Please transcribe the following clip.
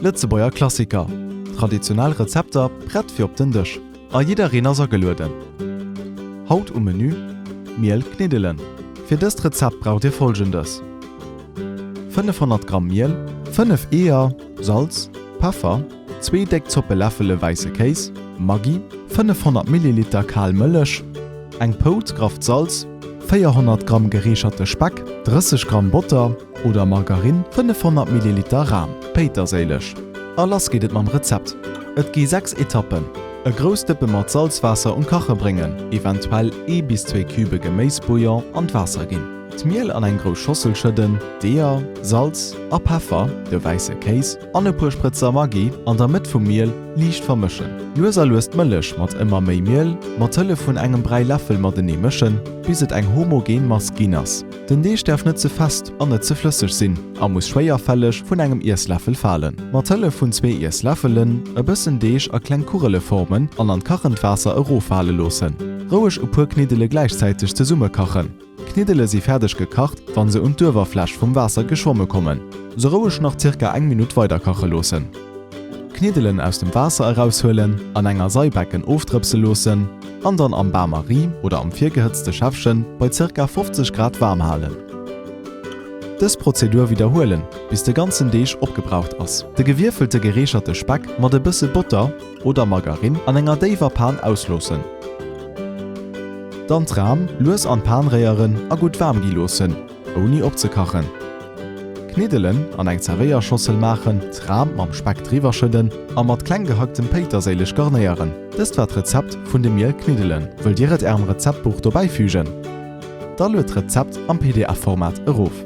Lëtzebuerger Klassiker, traditionell Rezepter prett fir op den Dësch a jiddereen ass agelueden! Haut um Menü, Miel kniddelen, fir dëst Rezept braucht dir folgendes, 500 Gramm Miel, 5 Eeër, Salz, Peffer, zwee déck Zoppeläffele wäisse Kéis, Maggi, 500 Milliliter kal Mëllech, eng Pouz grafft Salz, 400 Gramm gereecherte Speck, 30 Gramm Botter, oder Margarinn, 500 Milliliter Ram, Péiterséileg a lass geet et mam Rezept. Et gi 6 Etappen, E grouss Dëppe mat Salzwaasser um Kache bréngen, eventuell ee bis zwee Cube Geméisbouillon an d'Waasser ginn. D'Miel an eng grouss Schossel schëdden, d'Eeër, Salz a Peffer, de wäisse Kéis an e puer Sprëtzer Maggi an der Mëtt vum Miel liicht vermëschen. Lues a lues d'Mëllech mat ëmmer méi Miel mat Hëllef vun engem Bräiläffel matenee mëschen, bis et eng homogen Mass ginn ass. Den Deeg däerf net ze fest an net ze flësseg sinn a muss schwéierfälleg vun engem Iessläffel falen. Mat Hëllef vun zwee Iessläffelen e bëssen Deeg a kleng Kugele formen an an kachend Waasser eroffale loossen. Roueg e puer Kniddele gläichzäiteg zesumme kachen. D'Kniddele si fäerdeg gekacht, wann se un d'Uewerfläch vum Waasser geschwomme kommen. Se roueg nach zirka eng Minutt weider kache loossen. D'Kniddelen aus dem Waasser eraushuelen, an enger Seibecken ofdrëpse loossen. an dann am Bain-Marie oder am virgehëtzte Schäffchen bei ca. 50 Grad waarm halen. Dës Prozedur widderhuelen, bis de ganzen Deeg opgebraucht ass. De gewierfelte gereecherte Speck mat e bësse Botter oder Margarine an enger déiwer Pan ausloossen. Dann d'Ram lues an d'Pan réieren a gutt waarm gi loossen. ouni opzekachen. Kniddelen an eng Zerwéierschossel maachen, d'Ram mam Speck driwwer schëdden a mat kleng gehacktem Péiterséileg garnéieren. Dëst war d'Rezept vun de Miel-Kniddelen. Wëllt Dir et Ärem Rezeptbuch dobäi fügen? Da lued d'Rezept am PDF-Format erof.